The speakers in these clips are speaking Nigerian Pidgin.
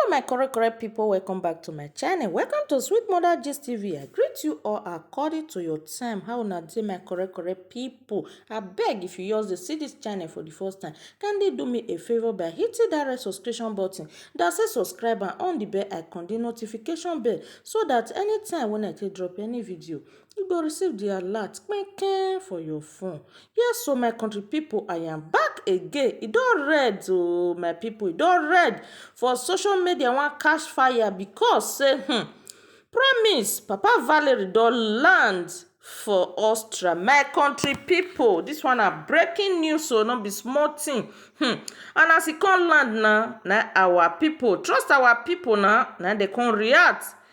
Hello my correct correct people, welcome back to my channel. Welcome to Sweet Mother Gist TV. I greet you all according to your time. How una dey my correct correct people? I beg if you just dey see this channel for the first time, kindly do me a favor by hitting that red subscription button that say subscribe and on the bell icon, the notification bell so that anytime when I take drop any video, you go receive di alert kpikpi kpikpi for your phone. Yes o my country pipu I am back again e don red o my pipu e don red for social media wan catch fire because sey um promise papa valery don land for Austria my country pipu dis one na breaking news o no be small thing um and as e come land na, na our pipu trust our pipu na, na im dem come react.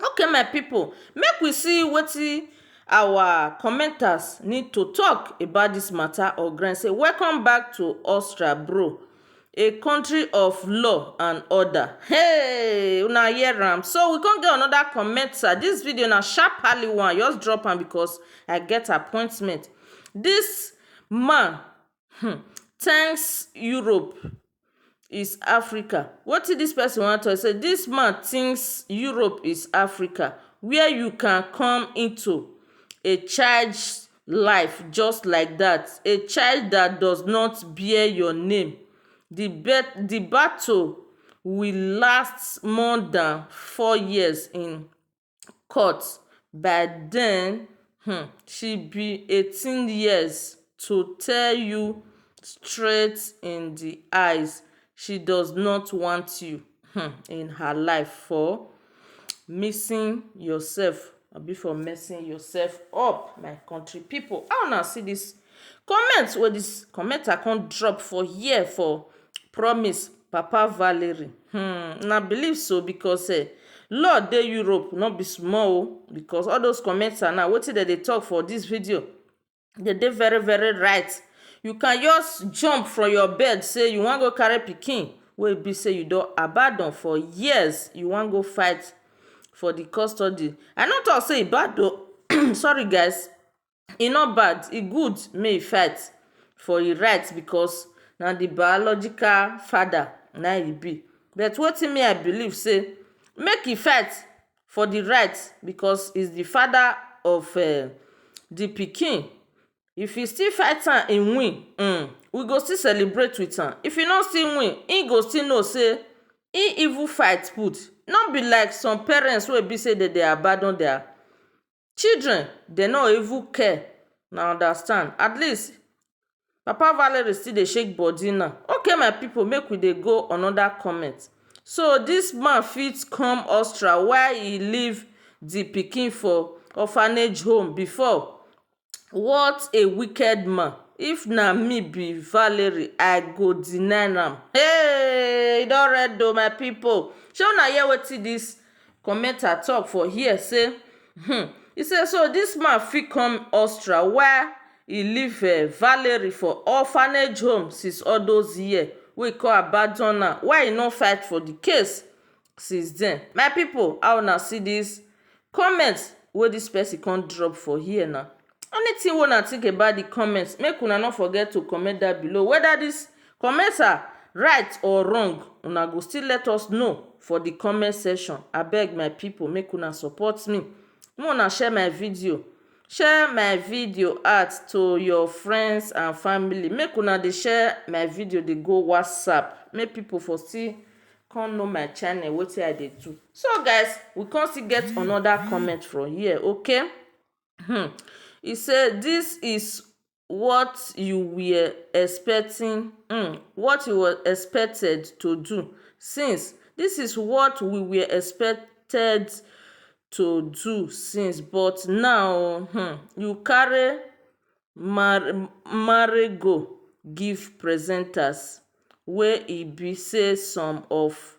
Okay my pipu make we see wetin our commenters need to talk about this matter or grin say welcome back to Australia bro a country of law and order heyy una hear am so we come get another commenter this video na sharpaly one I just drop am because I get appointment this man um thanks Europe is Africa wetin dis person wan talk say dis man thinks Europe is Africa where you can come into a child life just like that a child that does not bear your name the bet the battle will last more than four years in court by den um she be eighteen years to tell you straight in di eyes she does not want you um in her life for missing yourself abi for messing yourself up my country people how una see this. Comment wey dis commenter come drop for here for promise papa valery um una believe so because um law dey Europe no be small oh because all those commenter now wetin dem dey talk for dis video dem dey very very right you can just jump from your bed say you wan go carry pikin wey e be say you don abandon for years you wan go fight for the custody I no talk say e bad oh sorry guys E no bad, e good make you fight for your right because na the biological father na im you be. But wetin me I believe say make e fight for the right because he is the father of the pikin. If he still fight am he win ern we go still celebrate with am. If he no still win, he go still know say he even fight put. No be like some parents wey be say dem dey abandon their children dey no even care una understand at least papa valery still dey shake body now okay my people make we dey go another comment so this man fit come Austria while he leave the pikin for orphanage home before what a wicked man if na me be valery I go deny am hey e don red oh my people shey una hear wetin this Commenter tok for here say um e say so dis man fit come Austria wia e leave um Valerie for orphanage home since all those years wey e come abandon am why e no fight for di case since den my pipo how una see dis comment wey dis pesin come drop for here na. Anything wey una think about the comment make una no forget to comment down below whether this comments are right or wrong una go still let us know for the comment section abeg my people make una support me make una share my video share my video out to your friends and family make una dey share my video dey go whatsapp make people for still come know my channel wetin I dey do so guys we come still get another comment from here okay um e say dis is what you were expecting um what you were expected to do since dis is what we were expected to do since but now um you carry marry marry go give presenters wey e be say some of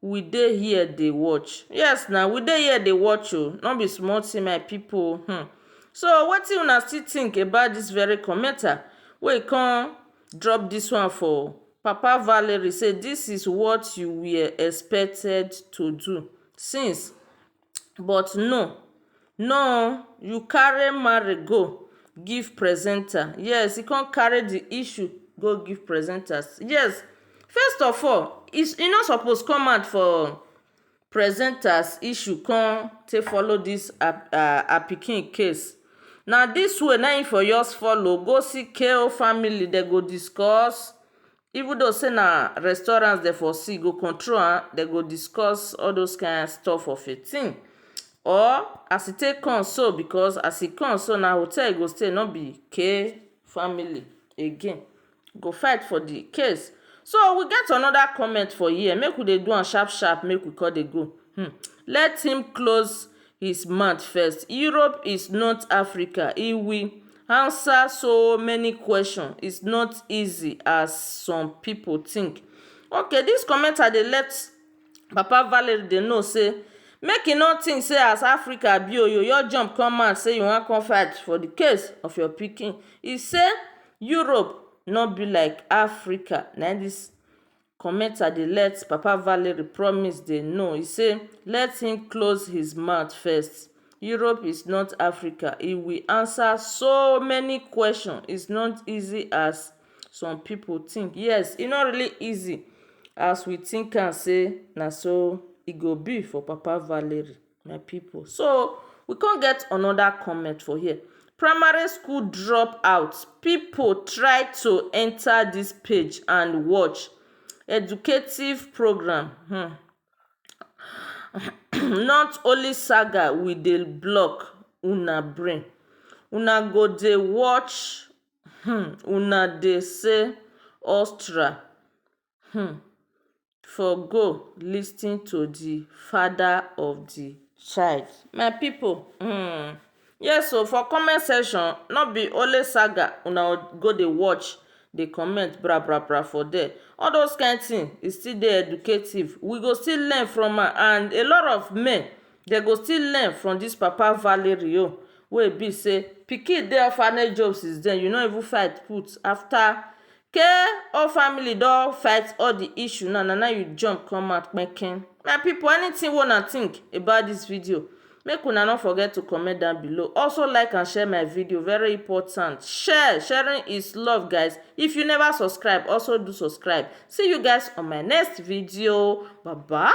We dey here dey watch. Yes na, we dey here dey watch o. No be small thing my pipu um. So wetin una still think about dis very commenter wey come drop dis one for Papa Valery say dis is what you were expected to do since but no no you carry marry go give presenter yes you come carry the issue go give presenter yes first of all e no suppose come out for presenter issue come take follow this her pikin case na this way na him for just follow go see KO family dem go discuss Even though say na restaurant dem for see go control am, dem go discuss all those kain stuff of a thing or as e take come so because as e come so na hotel e go stay no be kay family again. E go fight for the case. So we get another comment for here make we dey do am sharp sharp make we con dey go um let him close His mouth first Europe is not Africa he will answer so many questions it's not easy as some people think okay this commenter dey let papa Valerie dey know say make e no think say as Africa be o you just jump come out say you wan come fight for the case of your pikin he say Europe no be like Africa na this commenter dey let papa valery promise dey know e say let him close his mouth first europe is not africa e will answer so many questions is not easy as some people think yes e not really easy as we think am say na so e go be for papa valery my people so we come get another comment for here primary school drop out people try to enter this page and watch educative program hmm not only saga we dey block una brain una go dey watch hmm una dey say ostra um for go lis ten to di father of di child my pipo um yes o for comment section no be only saga una go dey watch dey comment bra bra bra for there all those kind thing e still dey educative we go still learn from am and a lot of men dey go still learn from this papa Valerie o wey e be say pikin dey orphanage home since then you no even fight put after Kay all family don fight all the issue now na now you jump come out kpenkpen my people anything wey una think about this video make una no forget to comment down below also like and share my video very important share sharing is love guys if you never subscribe also do subscribe see you guys on my next video bye bye